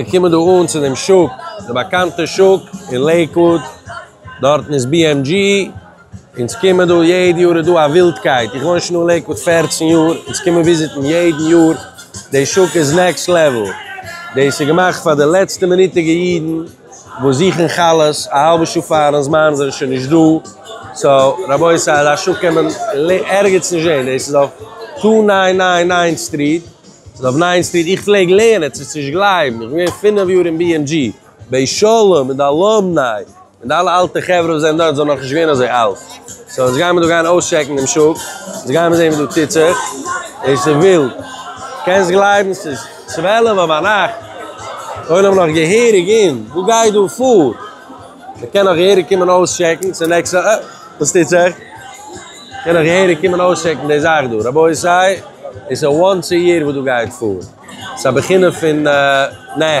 מיר קומען דא אן צו דעם שוק, די באקאנטע שוק אין לעיקוואוד, דארטן איז BMG, אונז קומען דא יעדע יאר, איז דא א ווילדקייט, איך וואוין שוין אן לעיקוואוד פֿערצן יאר, אונז קומען וויזיטן יעדן יאר, די שוק איז נעקסט לעוועל, דאס איז געמאכט פאר די לעצטע מינוטיגע אידן וואס זוכן חלות, א האלבע שעה פארן זמן זענען שוין נישט דא, סאו רבותי אזא שוק קען מען ערגעץ נישט זען, דאס איז אויף טו ניין ניין ניין סטריט. דוב ניינסטיר, איך פלעג לערנען, צו נישט גלייבן, איך בין געווען פינף יאר אין BMG, בית שלום, מיט די אלומניי, מיט די אלע אלטע חברה וואס זענען דארט, זענען נאכנישט געווען אזוי אלט. סאו יעצט גייען מיר דא גיין אויסטשעקן דעם שוק, יעצט גייען מיר זען וואס דא טוט זיך, עס איז ווילד, קענסט גלייבן ס'איז צוועלעוו אויף ביינאכט, עולם נאך געהעריג אין, וואס גייט דא פאר? מ'קען נאך געהעריג קומען אויסטשעקן, ס'איז נעקסט, אה, וואס טוט זיך? קען איך געהעריג קומען אויסטשעקן די זאך דא? רבותי, עס איז א וואנס א יער וואס דא גייט פאר. עס איז א בחינה פון נע.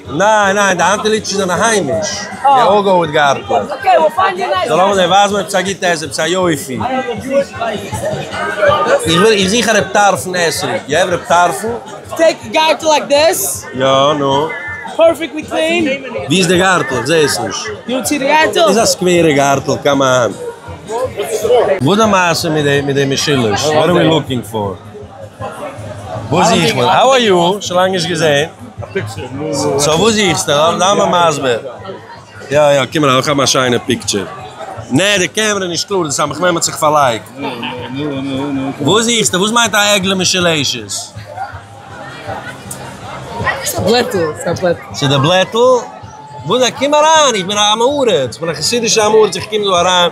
ניין ניין די האנט ליטשען זענען היימיש, די אויג הויט גארטלעך. זאל האבן זיי ווייזן מיר עפעס א גוטע עסן, עפעס א יופי. איך זוך א רעב טרפון עסן, יו העוו רעב טרפון? טעיק א גארטל לייק דיס. יא, נו? פערפעקטלי קלין. ווי איז די גארטל? איך זעה עס נישט. דו ווילסט זען די גארטל? איז א סקווערע גארטל, קאמאן. וואס איז די מעשה מיט די משולש? וואט אר ווי לוקינג פאר? וואס זיך מען? האו אר יו? שוין לאנג נישט געזעהן. סאו וואס זוכסטו? זיי מסביר. יא יא קום אריין, איך האב א שיינע פיקטשער. נע די קעמערע איז נישט קלאר, דאס איז א מחמם האט זיך פארלייגט. וואס זוכסטו? וואס מיינט א עגלה מיט שלעשעס? ס'איז א בלעטל. ס'איז די בלעטל? קום אריין, איך בין א עם הארץ, איך בין א חסידישע עם הארץ, איך קום דא אריין.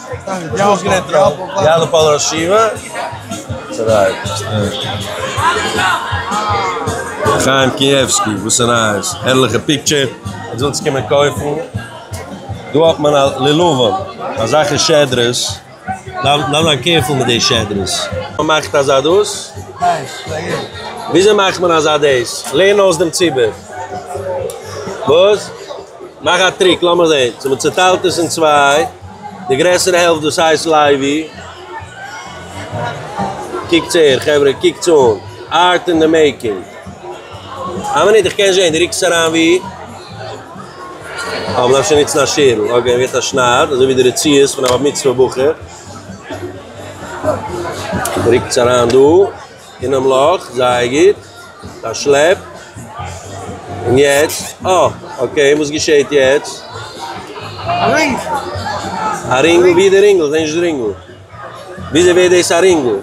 חיים קיעווסקי וואס איז נייעס? הערליכע פיקטשער אויב ווילסט קומען קויפן דא האט מען א לענאווא אזאלכע שעדרעס דארף מען זיין קערפול מיט די שעדרעס. ווער מאכט אזא דאס? וויאזוי מאכט מען אזא דאס? לערן אויס דעם ציבור. וואס? מאך א טריק לאמיר זעהן צו מען צוטיילט עס אין צוויי, די גרעסערע העלפט דאס הייסט לייבי, קוקטס אהער חברה קוקטס אן, ארט אין די מעיקינג, איין מינוט איך קען זעהן די רוקסט עס אריין ווי? אה מ'דארף שוין נוצן א שערל, אקעי מ'געט א שנייד אזוי ווי די רציעות פון א בר מצוה בחור, רוקטס אריין דא. אינעם לאך, זייער גוט, פארשלעפט. און יעצט? אה, אקעי, וואס געשעהט יעצט? א רינג! א רינגל? ווי איז די רינגל? כ'זעה נישט די רינגל. וויאזוי ווערט דאס א רינגל?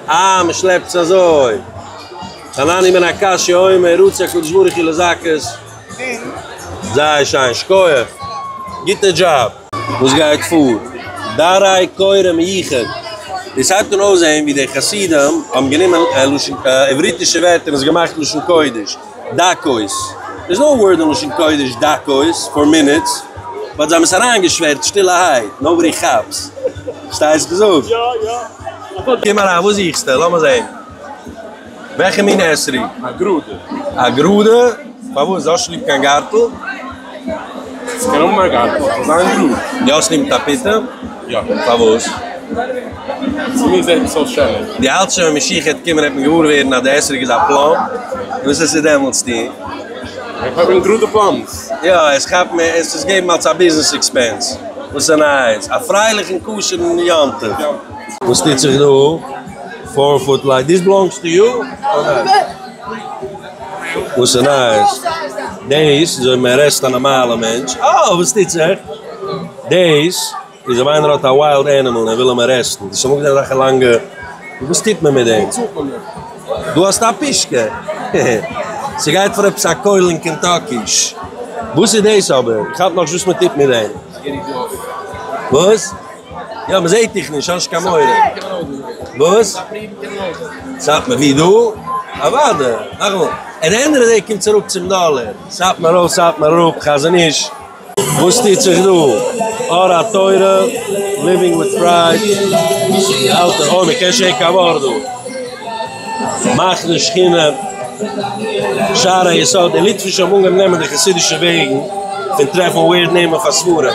אה, מ'שלעפט עס אזוי. חנני' בן הקשיא אומר, רוצה הקדוש ברוך הוא לזכות. זייער שיין, שכוח. גוטע דזשאב. וואס גייט פאר? דאריי קוראים איכה. און סייט קען אויסזעהן ווי די חסידים האבן גענומען לשון עבריתישע ווערטער און עס געמאכט לשון קודש. דקות. דער איז נאו ווארד אין לשון קודש דקות, פאר מינוטס. באט זיי האבן עס אריינגעשווערט שטילערהייט. נאובאדי כאפס. פארשטייסט געזאגט? קום אריין, וואס זוכסטו? לאמיר זעהן. וועלכע מין עשרי? א גראדע. א גראדע? פארוואס? האסט נישט ליב קיין גארטל? עס קען האבן א גארטל, עס זאל זיין גראד. די האסט ליב טאפיטע? יא. פארוואס? צו מיר זעט עס אויס שענער. דו האלטסט שוין ווען משיח העט קומען העט מען געוואר ווערן אז די עשריג איז א פלאם? וואס עס איז דעמאלטס טון? איך האב אים גראדע פלאמס. יא, עס כאפט מען עס עס געבן אלס א ביזנעס עקספענס. וואס א נייעס! א פרייליכן כשר'ן יום טוב! וואס טוט זיך דא? פאר פוט לייט דיס בלאנגס טו יו אר נאט? וואסע נייעס דעיס איז אויב מען ארעסט א נארמאלע מענטש אה וואס טוט זיך דעיס איז אויב איינער האט א וויילד ענימעל און ער וויל אים ארעסטן דאס פארמאגט אזעלכע לאנגע וואס טוט מען מיט דעם דו האסט א פישקע העהה סגייט פאר עפעס א קויל אין קענטאקי ש וואס איז דעיס אבער איך כאפ נאכנישט וואס מען טוט מיט דעם וואס? יא מען זעהט דיך נישט האסט קיין מורא. וואס? סאטמאר ווי דא? אוואדע. נאכאמאל. אין ענדע דעי קומט צוריק צום דאלער. סאטמאר ארויף סאטמאר אראפ חזון-איש. וואס טוט זיך דא? אור התורה, ליווינג וויט פרייד, אלטע אוי מען קען שוין קיין ווארט דא, מחנה שכינה, שער היסוד, די ליטווישע האבן אנגעהויבן נעמען די חסידישע וועגן פון טרעפן ווירד נעמען פאר ספרים.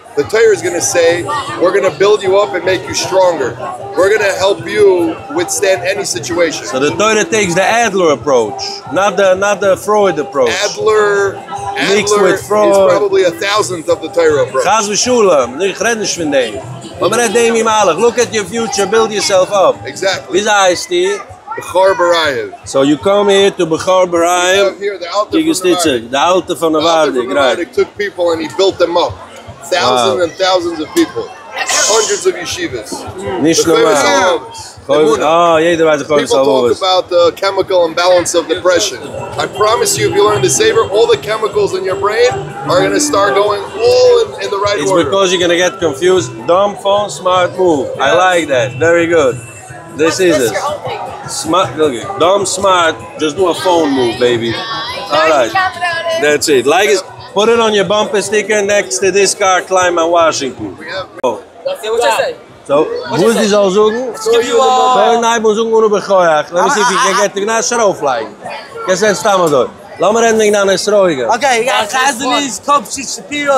די תורה איז גאנע סעי וויר גאנע בילד יו אפ ענד מעיק יו סטראנגער, וויר גאנע העלפ יו וויטסטענד עני סיטועשען. סאו די תורה טעיקס די עדלער אפראוטש, נאט די נאט די פרויד אפראוטש. עדלער, עדלער איז פראבעבלי א טאוזענט אוו די תורה אפראוטש. חס ושלום, איך רעד נישט פון דעם, אבער רעד דעם ווי מהלך, לוק עט יור פיוטשער, בילד יור סעלף אפ, וויאזוי הייסטו? בכור ברייער. סאו יו קאם היער טו בכור ברייער טו געט שטיצע. די אלטער פון נאווארדיק גרייט. נישט נארמאל. אה יעדער ווייסט די חובת הלבבות. איטס ביקאוז יו גאנא געט קאנפיוזד. דאמב פאון סמארט מאוו. איי לייק דעט. ווערי גוד. דאס איז עס. סמארט גוגל. דאם סמארט. דזשאסט דו א פאון מאוו בעיבי. אלרייט. דעטס איט. לייג עס. פוט איט אן יור באמפער סטיקער נעקסט טו דיס קאר קלעים אין וואשינגטאן. סאו וואס דו זאלסט זאגן. קען הייבן און זאגן אנא בכח. לעמי סי איף יו קען געט איט. נאר שוין אויפלייגן. קענסט רעדן סתם אזוי. לאמיר רעדן וועגן דיינע סרויגער. אקעי. יא. חזן איז קאפשיט שפירא.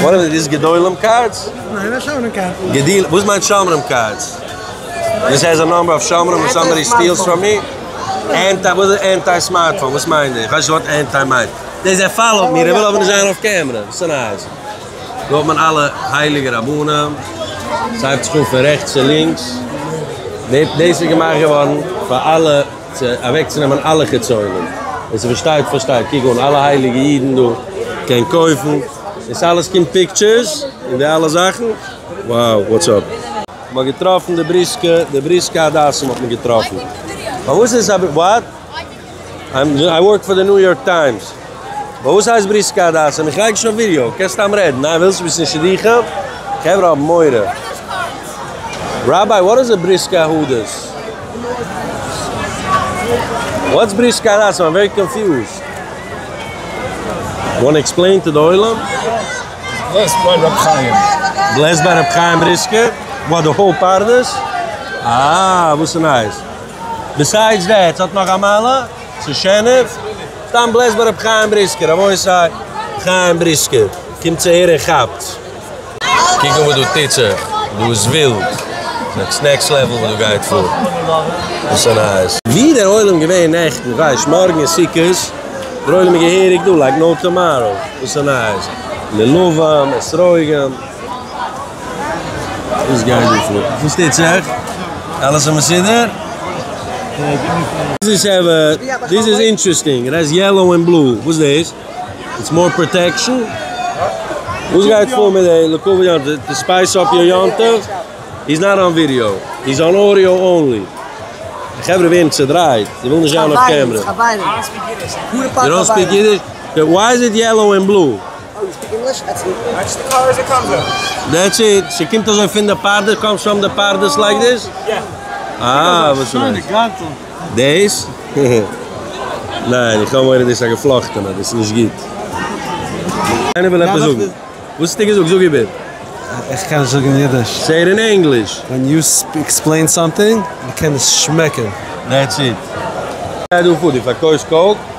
ווארענען איז דאס גדולים קארדס? ניין א שומרים קארד. געדיל וואס מיינט שומרים קארדס? דיס העז א נאמבער אוו שומרים און סאמבאדי סטילס פראם מי? ענטי וואס איז ענטי סמארטפאון וואס מיין די? כ'ווייס נישט וואט ענטי מיינט. דער זעהט פאלאוט מי ער וויל אבער נישט זיין אויף קעמרע וואס איז נייעס? דא האט מען אלע הייליגע רבנים ס'הייבט זיך אן פון רעכטס צו לינקס דעי דעיס איז געמאכט געווארן פאר אלע. צו אוועקצונעמען אלע חיצונים, ווער ס'פארשטייט פארשטייט, קוק אן אלע הייליגע אידן דא, קען קויפן, און ס'אלעס קומט פיקטשערס, און די אלע זאכן, wow וואטס אפ. מ'האט געטראפן די בריסקע, די בריסקע הדסים האט מען געטראפן. פארוואס איז עס א בריסקע? וואט? איי ווארק פאר די ניו יארק טיימס. וואס הייסט בריסקא הדסה? מיך לייגן שוין אויף ווידיאו? קענסט סתם רעדן, ניין ווילסט וויסן אין שידוכים? חברה האבן מורא. ראביי וואט איז א בריסקא הדס? וואטס בריסקא הדסה? איים ווערי קאנפיוזד. יו וואנט עקספלעין טו די עולם? בלעסט ביי רבי חיים. בלעסט ביי רבי חיים בריסקא? וואט די האול פרדס? אה וואס איז נייעס? ביסיידס דעט ס'האט נאך א מעלה? צו שענער, סתם בלעזט ביי רבי חיים בריסקער, רבותי חיים בריסקער קומט צו הערן כאפטס. קוק אן וואס דא טוט זיך, דא איז ווילד, נעקסט נעקסט לעוועל וואס דא גייט פאר, וואס א נייעס. ווי דער עולם געווען נעכטן, כ'ווייס מארגן איז סוכות, דער עולם איז געהעריג דא לייק נאו טאמאראו, וואס א נייעס, מלוה, אסרוגים, וואס גייט דא פאר? וואס טוט זיך? אלעס איז מסודר? דיס איז אינטרעסטינג, ער הייסט יעלאו און בלו, וואס דאס? איטס מאר פראטעקשן? וואס גייט פאר מיט די לעקאווע יום טוב? טו ספייס אפ יור יום טוב? היז נאט אן ווידיאו, היז אן אודיאו אנלי. די חברה ווערן צעדרייט, זיי ווילן נישט זיין אויף קעמרע. יו דאנט ספיק אידיש? וויי איז איט יעלאו און בלו? דעטס איט? ס'קומט אזוי פון די פרדס? קאמס פראם די פרדס לייק דיס? אה וואס איז דאס? דעיס? ניין איך האב מורא דאס איז א געפלאכטענע דאס איז נישט גוט. איינער וויל עפעס זאגן? וואס האסטו געזאגט? זאג איבער. איך קען נישט זאגן אידיש. זיי ער אין ענגליש. ווען יו עקספלעין סאמטינג, מ'קען עס שמעקן. דעטס איט. גיי דא פאר, דו פארקויפסט קאוק?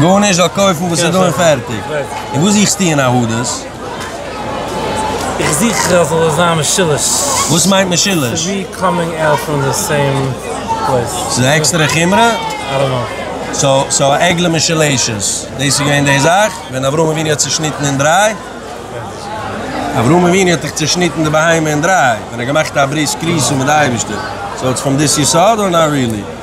גארנישט, זאל קויפן וואס איז דא און פערטיג. און וואס זוכסטו אין א הודות? איך זוך אז ס'זאל זיין משולש. וואס מיינט משולש? ס'איז א עקסטערע חומרא? סאו א עגלה משולשת, דאס איז געווען די זאך ווען אברהם אבינו האט צושניטן אין דריי? אברהם אבינו האט דאך צושניטן די בהמה אין דריי ווען ער האט געמאכט א ברית כריסו מיט די אייבישטער, סאו איטס פרום דיס יסוד אר נאט ריעלי?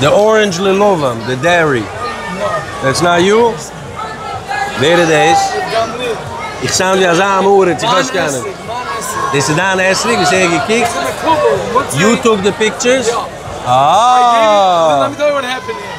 די ארענדזש לעלובעם די דערי דעטס נאט יו? ווער איז דאס? איך סאונד ווי אזא עם הארץ איך ווייס קיינעם. דאס איז דיין אתרוג וואס ער געקוקט יוטוב די פיקטשערס? אה!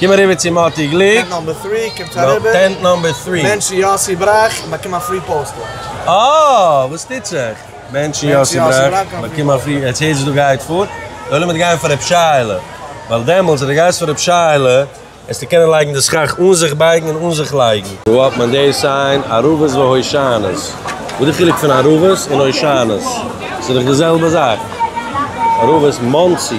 קום אריבער צו מאטי גליק. טענט נאמבער טרי. מענטשן יאסי בראך און באקום א פרי פאוסטער. אה! וואס טוט זיך? מענטשן יאסי בראך און באקום א פרי. עטס הערט וואס דא גייט פאר? די עולם וועט גיין פאר רב שייעלע. ווייל דעמאלטס אז די גייסט פאר רב שייעלע העסטו קענען לייגן די סכך אן זיך בייגן און אן זיך לייגן. וואו האט מען די סיין? ערבות והושענות. וואס די חילוק פון ערבות און הושענות? ס'איז דאך די זעלבע זאך. ערבות מאנסי.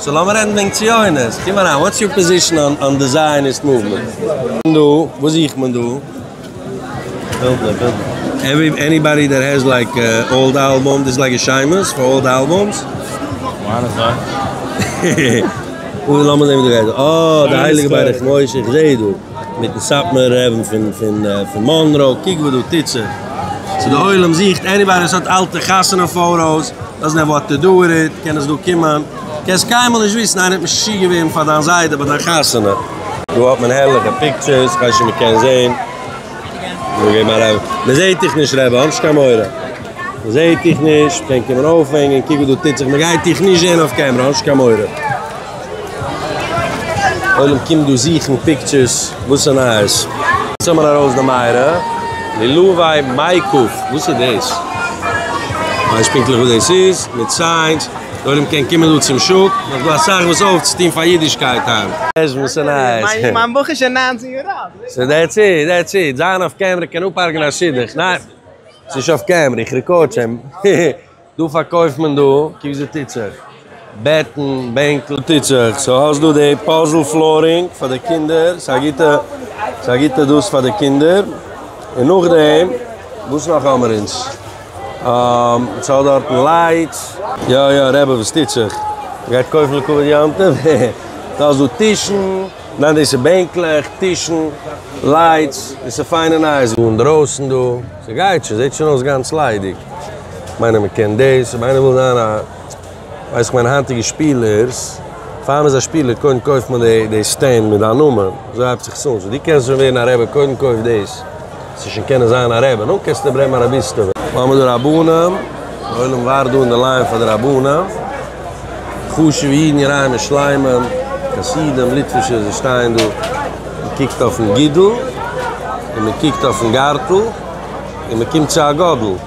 סאו לאמיר רעדן וועגן ציונות. קום אריין, וואטס יור פאזישן אן די זייעניסט מאוומענט? דא? וואס זוכט מען דא? בילדער בילדער. עניבאדי דער העז לייק אולד אלבום דיס לייק א שיימעס פאר אולד אלבום'ס? מיינע זענען. אוי לאמיר זעהן וואס דא גייט אן. אה די הייליגע ברך משה איך זעה דא. מיטן סאטמאר רעבן פון פון מאנרא, קוק וואס דא טוט זיך, סאו די עולם זוכט עניבאדי וואס האט אלטע חתונה פאוטאס, דאזענט העוו וואט טו דו וויט איט, קען עס דא קומען, קענסט קיינמאל נישט וויסן, איינער האט משוגע געווערן פאר דיין זיידע ביי דיין חתונה. דא האט מען הערליכע פיקטשערס, כ'ווייס נישט צו מ'קען זעהן, מ'זעהט דיך נישט רבי, האב נישט קיין מורא, מ'זעהט דיך נישט, מ'קען קומען אויפהענגען, קוק וואס דא טוט זיך, מ'גייט דיך נישט זעהן אויף קעמרע, האב נישט קיין מורא. עולם קומט דא זוכן פיקטשערס, וואס איז נייעס? זאג מיר ארויס די מיירא מילוואי מיי קאפ, וואס איז דאס? כ'ווייס פונקטליך וואס דאס איז, מיט סיינס, די עולם קען קומען דא צום שוק, נאך דא אסאך וואס אויפצוטון פאר אידישקייט היינט. עזש וואס איז נייעס? מיין בח איז שוין נײַנצן יאר אלט. סאו דעטס איט, דעטס איט, זיין אויף קעמרע קען אפהרג'נען א שידוך, ניין ס'נישט אויף קעמרע, איך רעקארד שוין. דא פארקויפט מען דא קוק זי טוט זיך בעטן בענקל טוט זיך סאו האסט דא די פאזל פלארינג פאר די קינדער ס'איז א גוטע ס'איז א גוטע דאס פאר די קינדער און נאכדעם וואס נאך האמער אונז און ס'האט דארטן לייטס. יא יא רעבע וואס טוט זיך? גייט קויפן לכבוד יום טוב? דו האסט דא טישן. ניין דאס איז בענקלעך, טישן, לייטס, דאס איז פיינע נייעס דא אינדרויסן דא, ס'גייט שוין, זעט שוין אויס גאנץ ליידיג, כ'מיין מען קען דאס, אויב איינער וויל זיין א, ווייסט איך מיינע היינטיגע שפילערס, פאר מען איז א שפילער קודם קויפט מען די סטענד מיט דיין נאמען, אזוי הייבט זיך עס אן, סאו דו קענסט שוין ווערן א רעבע קודם קויף דאס. צו שוין קענען זיין א רעבע, נו קענסטו ברענגען א רביסטעווע. האמער די רבנים, די עולם ווארט דא אין די ליין פאר די רבנים, חשובע אידן געראימע שלמים, חסידים, ליטווישע, זיי שטייען דא, מען קוקט אויפן גידול, און מען קוקט אויפן גארטל, און מען קומט צו א גאדל.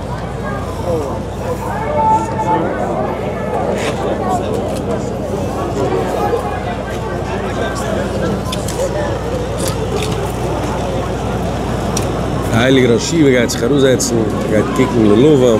די הייליגע ראש ישיבה גייט זיך אראפזעצן ער גייט קוקן ללבם.